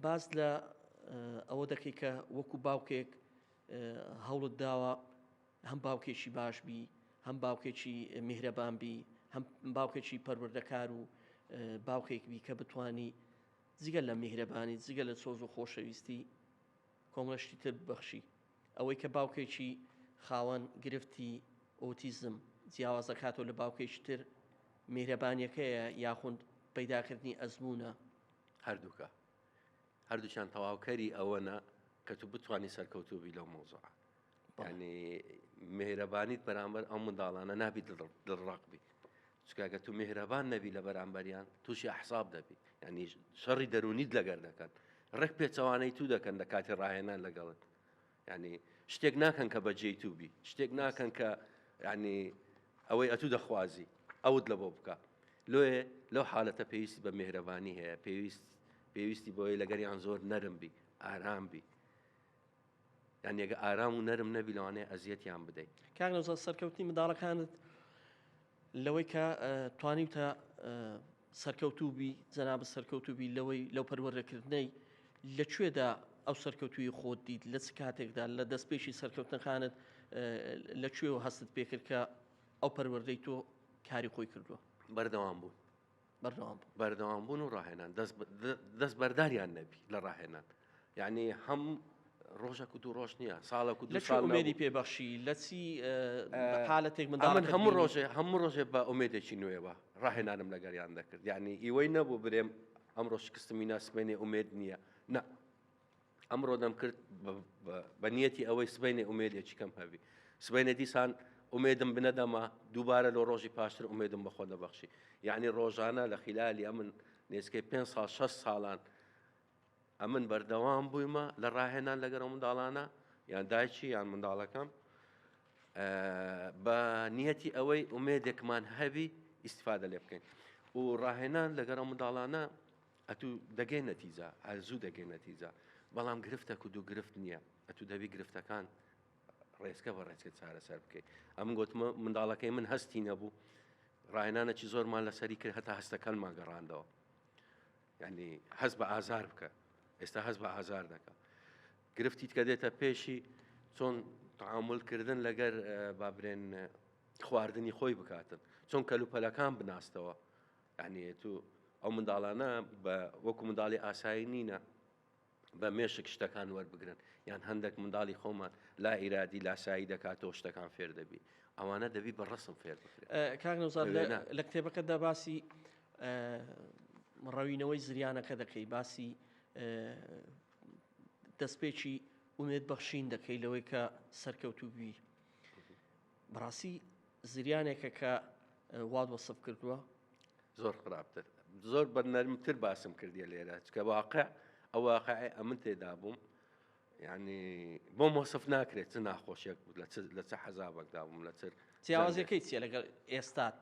باز لە ئەوە دەکەی کە وەکو باوکێک هەوڵت داوە هەم باوکێکی باش بی هەم باوکێکی میهرەبان بی هەم باوکێکی پەروەردەکار و باوکێک بی کە بتانی جگە لە میهرەبانی، جگە لە سۆز و خۆشەویستی، کۆمەڵە شتی تر ببەخشی. ئەوەی کە باوکێکی خاوەن گرفتی ئۆتیزم جیاواز دەکاتەوە لە باوکێکی تر، میهرەبانییەکەیە یاخود پەیداکردنی ئەزموونە؟ هەردووکە. هەردووکیان تەواوکەری ئەوەنە کە تو بتوانی سەرکەوتوو بی لەو مەوزوعە. یعنی مهرەبانیت بەرامبەر ئەو منداڵانە نابی دڵڕاق بی چکاگە تو مهرەبان نەبی لە بەرامبەریان تووشی حساب دەبی یعنی شەڕی دەرونیت لەگەر دەکەن ڕێک پێچەوانەی تو دەکەن لە کاتی ڕاهێنان لەگەڵت ینی شتێک ناکەن کە بەجێی تو بی شتێک ناکەن کە ینی ئەوەی ئەتوو دەخوازی ئەوت لە بۆ بکە لۆێ لەو حالەتە پێویستی بە مهرەبانی هەیە پێویست پێویستی بۆی لەگەریان زۆر نەرم بی ئارام بی یانی ئەگە ئارام و نەرم نەبی لەوانەیە ئەزیەتیان بدەی. کاک نەوزاد سەرکەوتنی منداڵەکانت لەوەی کە توانیوتە سەرکەوتوو بی جەنابت سەرکەوتوو بی لەوەی لەو پەروەردەکردنەی لە کوێدا ئەو سەرکەوتوی خۆت دیت لە چ کاتێکدا لە دەست پێشی سەرکەوتنەکانت لە کوێ و هەستت پێکرد کە ئەو پەروەردەی تۆ کاری خۆی کردووە بەردەوام بوون بەردەوامبوون و ڕاهێنان دەست بەرداریان نەبی لە ڕاهێنان یعنی هەم ڕۆژە کو دوو ڕۆژ نییە ساڵک و دوێنی پێبەخشی لە چی حالەتێک من من هەموو ڕۆژێ هەموو ڕۆژێ بە ئومێدێکی نوێەوە ڕاهێنانم لەگەریان دەکرد یعنی ئیوەی نەبوو برێم ئەم ڕۆژ کستمی ناسمێنێ ئومێد نییە نە ئەمڕۆ دەمکرد بە نیەتی ئەوەی سبینێ ئومێدێکی کەم هەبی سبینێ دیسان ئومێدم بنەدەما دووبارە لە ڕۆژی پاشتر ئومێدم بەخۆ دەبەخشی یعنی ڕۆژانە لە خلالی ئەمن نێزکەی پێ ساڵ 6 ساڵان ئەمن بەردەوام بوویمە لە ڕاهێنان لەگەرە منداڵانە یان دایکی یان منداڵەکەم بە نیەتی ئەوەی ئومێدێکمان هەبی ئیسفادە لێ بکەین و ڕاهێنان لەگەرە منداڵانە ئەتو دەگەی نەتیجە هەر زوو دەگەی نەتیجە بەڵام گرفتە کود و گرفت نییە ئەتو دەبی گرفتەکان ڕێزکە بە ڕێچکە چارەسەر بکەیت ئەم گوتمە منداڵەکەی من هەستی نەبوو ڕاهێنانەکی زۆرمان لەسەری کرد هەتا هەستەکانمان گەڕاندەوە ینی هەست بە ئازار بکە ئێستا هەست بە ئازار دەکە گرفتیت کە دێتە پێشی چۆن تعاملکردن لەگەر بابرێن خواردنی خۆی بکاتن چۆن کەلوپەلەکان بناستەوە یەعنی تو ئەو منداڵانە بە وەکو منداڵی ئاسایی نینە بە مێشک شتەکان وەربگرن یان هەندێک منداڵی خۆمان لا ئیرادی لاسایی دەکاتەوە شتەکان فێر دەبی ئەوانە دەبی بە ڕسم فێر بکرێت کاک نەوزار لە- لەوێنا. لە کتێبەکەتدا باسی ئە، ڕەوینەوەی زریانەکە دەکەی باسی ئە، دەستپێکی ئومێد بەخشین دەکەی لەوەی کە سەرکەوتوو بی، بەڕاستی زریانێکە کە وات وەسف کردووە زۆر خراپتر زۆر بە نەرمتر باسم کردیە لێرە چکە واقع ئەو واقع ئەمن تێدا بووم یعنی بۆ مۆسف ناکرێت چ ناخۆشیێک لە چ حەزابەکدا بووم لە چر جیاوازەکەی چیە لەگەڵ ئێستات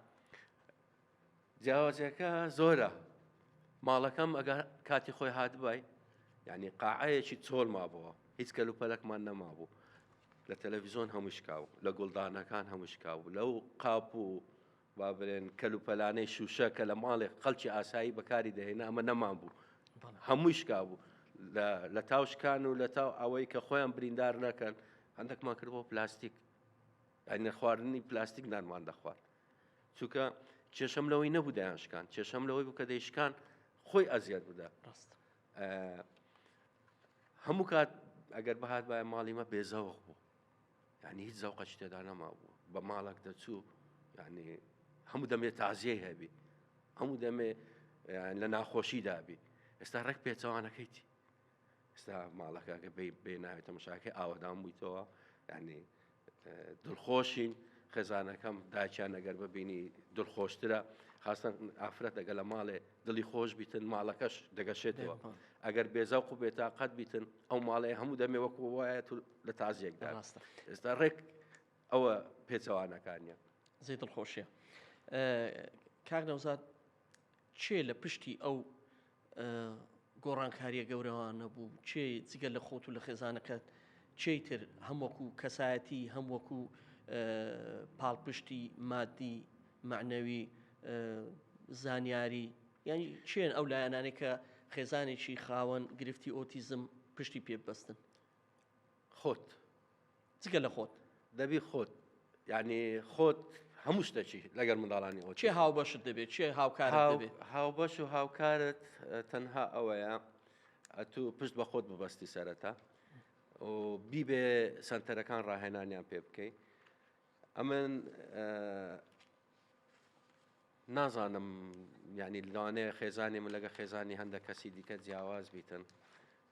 جیاوازیەکە زۆرە ماڵەکەم ئەگەر کاتی خۆی هاتبای یعنی قاعەیەکی چۆل مابەوە هیچ کەل و پەلکمان نەمابوو لە تەلەڤزیۆن هەمووشکاو لە گوڵدانەکان هەمووشکاو لەو قاپ و با برێن کەل و پەلانەی شوشە کە لە ماڵێک خەڵکی ئاسایی بەکاری دەهێنا ئەمە نەمان بوو هەمووی شکا بوو لە تاوشکان و لە تاو ئەوەی کە خۆیان بریندار نەکەن هەندێکمان کرد بۆ پلاستیک ئەین خواردنی پلاستیک نانمان دەخوارد چونکە کێشەم لەوەی نەبوو دەیانشکان کێشەم لەوەی بوو کە دەیشکان خۆی ئەزیاد بدا ڕاست هەموو کات ئەگەر بەهات باە ماڵیمە بێزەوەخ بوو یعنی هیچ زەوقە شتێدا نەما بوو بە ماڵک دەچوو یعنی هەموو دەمێ تازیە هەبی هەموو دەمێ لە ناخۆشی دابی ئێستا ڕێک پێچەوانەکەیتی ئێستا ماڵەکە کە بێ بێ ناوێت تەمەشاکە ئاوەدان بوویتەوە یعنی دڵخۆشین خێزانەکەم داچیان ئەگەر ببینی دڵخۆشترە خاستن ئافرەت ئەگە لە ماڵێ دڵی خۆش بیتن ماڵەکەش دەگەشێتەوە ئەگەر بێزاو قو بێتا قەت بیتن ئەو ماڵێ هەموو دەمێ وەکو وایە تو لە تازیەکدا ڕاستە ئێستا ڕێک ئەوە پێچەوانەکانە زەی دڵخۆشیە کاک نەوزاد کێ لە پشتی ئەو گۆڕانکاریە گەورەوانە بوو کێ جگە لە خۆت و لە خێزانەکەت کێی تر هەم وەکو کەسایەتی هەم وەکو پاڵپشتی مادی معنەوی زانیاری یعنی چێن ئەو لایەنانێ کە خێزانێکی خاوەن گرفتی ئۆتیزم پشتی پێ ببەستن خۆت جگە لە خۆت. دەبی خۆت یعنی خۆت هەموو شتەکی لەگەر منداڵانی ئەو چێ هاوبەشت دەبێت چێ هاوکار هاوبەش و هاوکارت تەنها ئەوەیە ئەتو پشت بە خۆت ببەستی سەرەتا و بیبێ سنتەرەکان ڕاهێنانیان پێ بکەیت ئەمن نازانم یانی لەوانەیە خێزانی من لەگە خێزانی هەندە کەسی دیکە جیاواز بیتن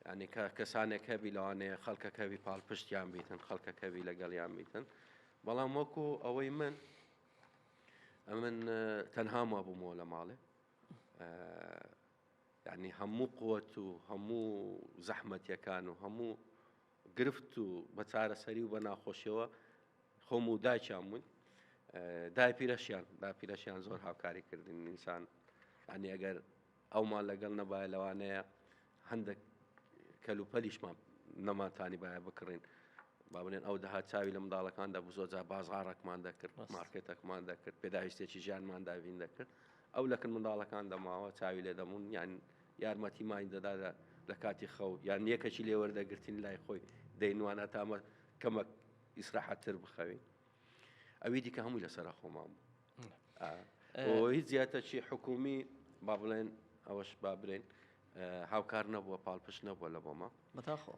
ینی کە کەسانێک هەبی لەوانەیە خەڵکەکەوی پاڵپشتیان بیتن خەڵکەکەوی لەگەڵیان بیتن بەڵام وەکو ئەوەی من ئەمن تەنهام وابوومەوە لە ماڵێ ینی هەموو قوت و هەموو زەحمەتەکان و هەموو گرفت و بە چارەسەری و بە ناخۆشیەوە خۆم و دایکیان بووین داپیرەشیان داپیرەشیان زۆر هاوکاری کردن ئینسان ئەنی ئەگەر ئەومان لەگەڵ نەبایە لەوانەیە هەندێک کەلوپەلیشمان نەمانتانی باە بکڕین با بڵێن ئەو دەها چاوی لە منداڵەکاندا بزۆجا بازغاڕەکمان دەکرد مارکێتەکمان دەکرد پێداویستێکی ژیانماندا بین دەکرد ئەو لەکن منداڵەکان دەماوە چاوی لێ دەمون یان یارمەتیمانی دەدات لە کاتی خەو یان یەکەکی لێ وەردەگرتین لای خۆی دەینوانە تا مە کەمەک ئیسراحەتتر بخەوین ئەوی دیکە هەمووی لەسەر خۆمان بوو هیچ زیاتەکی حکومی با بڵێن ئەوەش با برێن هاوکار نەبووە پاڵپشت نەبووە لە بۆمە بەتاخۆ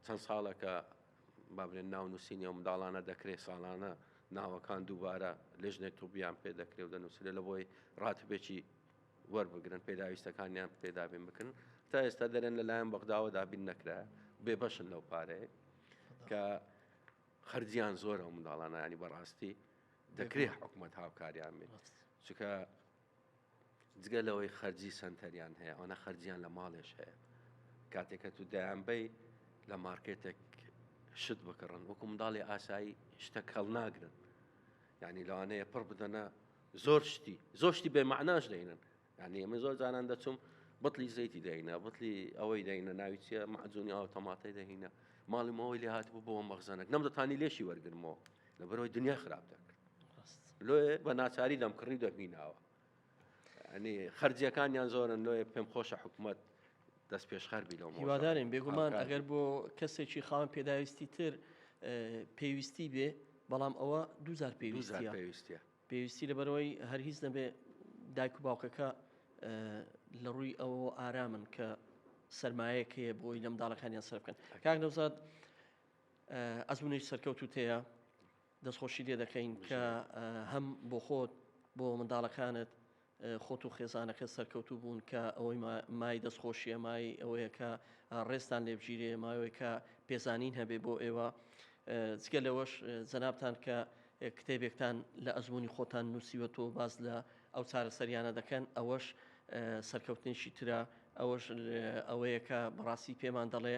چەند ساڵەکە با برێن ناو نووسینی ئەو منداڵانە دەکرێت ساڵانە ناوەکان دووبارە لەژنێک تۆبیان پێ دەکرێت و دەنووسێت لە بۆی ڕاتبێکی وەربگرن پێداویستەکانیان پێ دابین بکن تا ئێستا دەرێن لەلایەن بەغداوە دابین نەکرا بێبەشن لەو پارەیە کە خەرجیان زۆرە و منداڵانانی بەڕاستی دەکرێت حکوومەت هاوکاریان بێت چکە جگە لەوەی خەرجی سنتەریان هەیە ئەوە خەرجیان لە ماڵێش هەیە کاتێکە تو دایانبەی لە مارکێتێک شت بکڕن وەکو منداڵی ئاسایی شتە کەڵ ناگرن یعنی لەوانەیە پڕ بدەنە زۆر شتی زۆر شتی بێ معناش دەینن یعنی ئەمە زۆر جاران دەچوم بطلی زەیتی دەینە بطلی ئەوەی دەینە ناوی چیە معجونی ئاو تەماتەی دەهینە ماڵی ماوەی لێ هاتبوو بۆ مەغزانەک نەم دەتانی لێشی وەرگرمەوە لە بەرەوەی دنیا خراپ دەکرد لۆ بە ناچاری دەم کڕی دەبیناوە ئەنی خەرجیەکانیان زۆرن لۆیە پێم خۆشە حکوومەت هیوادارین بێگومان ئەگەر بۆ کەسێکی خاوەن پێداویستی تر پێویستی بێ بەڵام ئەوە دووجار پێویستە پێویستی لەبەرەوەی هەر هیچ نەبێ دایک و باوکەکە لە ڕووی ئەوەوە ئارامن کە سرمایەک هەیە بۆی لەم داڵەکانیان سەر بکەن کاک نەوزاد ئەزمونێک سەرکەوت و تەیە دەستخۆشیت لێ دەکەین کە هەم بۆ خۆت بۆ منداڵەکانت خۆت و خێزانەکە سەرکەوتوو بوون کە ئەوەی مای دەستخۆشیە مای ئەوەیە کە ڕێستان لێبگیرێ ماوەیە کە پێزانین هەبێ بۆ ئێوە جگە لەوەش جەنابان کە کتێبێکتان لە ئەزمموی خۆتان نووسیوە تۆ باز لە ئەو چارەسەریانە دەکەن ئەوەش سەرکەوتنیشی ترە ئەوەش ئەوەیە کە بەڕاستی پێمان دەڵێ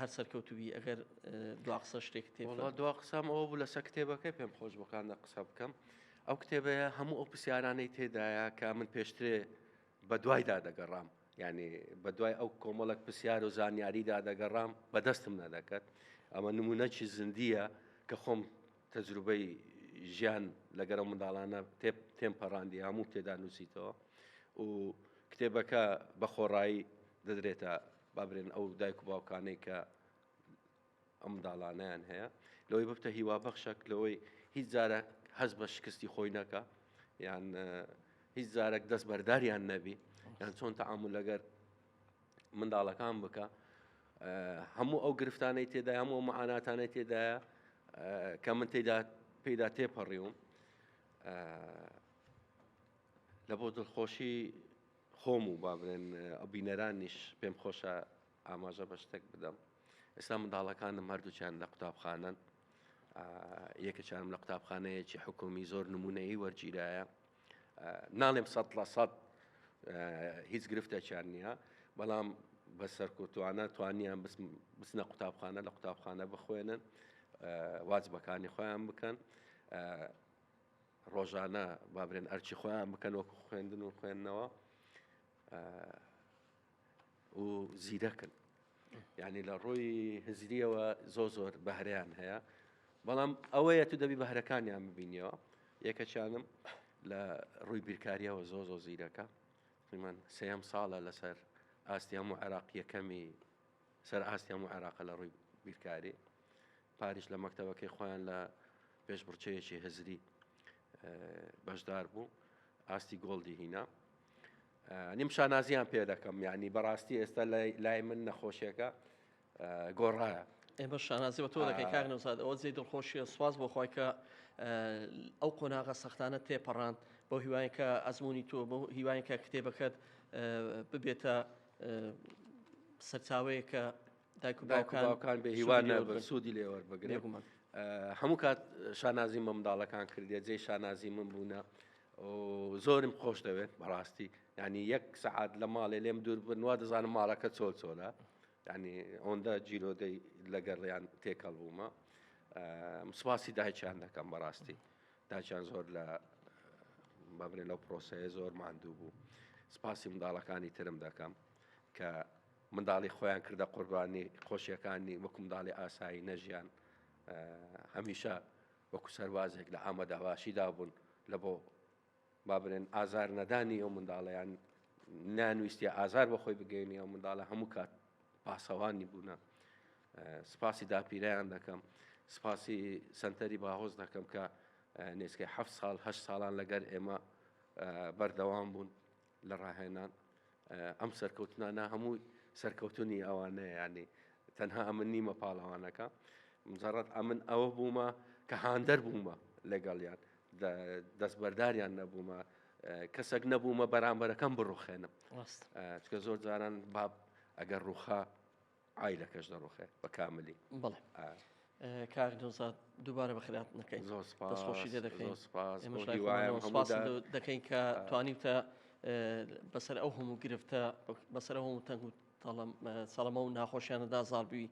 هەر سەرکەوتو بی ئەگەر دوا قسە شتێک تێ وڵات دوا قسەم ئەوە بوو لەسەر کتێبەکە پێم خۆش بۆکاندا قسە بکەم ئەو کتێبەیە هەموو ئەو پرسیارانەی تێدایە کە من پێشترێ بە دوایدا دەگەڕام ینی بە دوای ئەو کۆمەڵک پرسیار و زانیاریدا دەگەڕام بەدەستم نەدەکەت ئەمە نمونەکی زندیە کە خۆم تەجروبەی ژیان لەگەرە منداڵانە تێم پەڕاندی هەموو تێدا نووسیتەوە و کتێبەکە بە خۆڕایی دەدرێتە با برێن ئەو دایک و باوکانەی کە ئەم منداڵانەیان هەیە لەوەی ببتە هیوابەخشەک لەوەی هیچ جارە هەز بە شکستی خۆی نەکە یان هیچ جارێک دەست بەرداریان نەبی یان چۆن تەعامل لەگەر منداڵەکان بکە هەموو ئەو گرفتانەی تێدا هەموو معاناتانەی تێدایە کە من تێدا پێدا تێپەڕیوم لە بۆ دڵخۆشی خۆم و با بڵێن بینەرانیش پێم خۆشە ئاماژە بە شتێک بدەم ئێستا منداڵەکانم هەردووچیان لە قوتابخانەن یەکەچارم لە قوتابخانەیەکی حکومی زۆر نمونەیی وەرگیرایە ناڵێم سە لە سەد هیچ گرفتێکیان نییە بەڵام بە سەرکوتوانە توانیان بسنە قوتابخانە لە قوتابخانە بخوێنن واجبەکانی خۆیان بکەن ڕۆژانە با برێن ئەرچی خۆیان بکەن وەکو خوێندن و خوێندنەوە و زیرەکن یعنی لە ڕۆی هزریەوە زۆ زۆر بەهرەیان هەیە بەڵام ئەوەیە تو دەبی بەهرەکانیان ببینیەوە یەکەچانم لە ڕووی بیرکاریەوە زۆ زۆ زیرەکە من سێم ساڵە لەسەر ئاستی هەموو عێراق یەکەمی سەر ئاستی هەموو عێراق لە ڕووی بیرکاری پاریش لە مەکتەبەکەی خۆیان لە پێشبڕکێیەکی هزری بەشدار بوو ئاستی گۆڵدی هینا نیم شانازیان پێ دەکەم یعنی بەڕاستی ئێستا لای من نەخۆشیەکە گۆڕایە ئێمە شانازی بە تۆ دەکەی کاک نەوزاد ئەوە جێ دڵخۆشیە سواز بۆ خۆی کە ئەو قۆناغە سەختانە تێپەڕاند بۆ هیوایە کە ئەزمموی تۆ بۆ هیوایە کە کتێبەکەت ببێتە سەرچاوەیە کە داکوباوکان بێ هیوا نەبن سوودی لێوەەر بگرێ هەموو کات شانازی مەمنداڵەکان کردێ جێ شانازی من بوونە زۆرم خۆش دەوێت بەڕاستی ینی یەک سعات لە ماڵێ لێم دوور بنوە دەزانم ماڵەکە چۆل چۆلە ینی ئەوەندە جیرۆدەی لەگەڕیان تێکەڵ بوومە سپاسی دایچیان دەکەم بەڕاستی داچیان زۆر لە بەبرێ لەو پرۆسەیە زۆر ماندوو بوو سپاسی منداڵەکانی ترم دەکەم کە منداڵی خۆیان کردە قوربانی خۆشیەکانی وەکو منداڵی ئاسایی نەژیان هەمیشە وەکو سەروازێک لە ئامە داواشیدا بوون لە بۆ با بنێن ئازار نەدانی ئەو منداڵیان نانویستی ئازار بە خۆی بگەینی ئەو منداڵە هەموو کات پاسەوانی بوونە سپاسی داپیرەیان دەکەم سپاسی سنتەری باهۆز دەکەم کە نێسکەی ه ساڵ هە ساڵان لەگەر ئێمە بەردەوام بوون لە ڕاهێنان ئەم سەرکەوتنانە هەموو سەرکەوتنی ئەوانەیە یانی تەنها ئەمن نیمە پاڵەوانەکە مجرڕەت ئەمن ئەوە بوومە کە هاندەر بوومە لەگەڵیان دەستبەرداریان نەبوومە کەسێک نەبوومە بەرامبەرەکەم بڕوخێنم چکە زۆر جاران باب ئەگەر ڕوخا عایلەکەش دەڕوخێ بە کاملی بڵێ کاک نەوزاد دووبارە بە خراپ نەکەین زۆر خۆشی لێ دەکەین سپاس دەکەین کە توانیوتە بەسەر ئەو هەموو گرفتە بەسەر هەموو تەنگ و سەڵمە و ناخۆشیانەدا زاربووی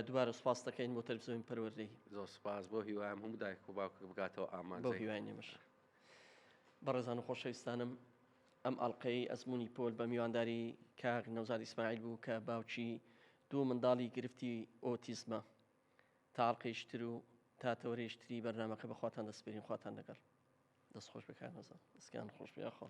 دوبارە سپاس دەکەین بۆ تەلفزیۆن پەروەردەی زۆر سپاس بۆ هیوایم هەموو دایک و باوکە بگاتەوە ئامانجەکەیانمەش بەڕێزان و خۆشەویستانم ئەم ئەڵقەی ئەزموونی پۆل بە میوانداری کاک نەوزاد ئیسماعیل بوو کە باوکی دوو منداڵی گرفتی ئۆتیزمە. تا ئەڵقەیەکی تر و تا تەوەرەیەکی تری بەرنامەکە بە خواتان دەسپێرین خواتان لەگەڵ. دەست خۆش بێ کاک نەوزاد. دەستکانت خۆش بێ یاخوا.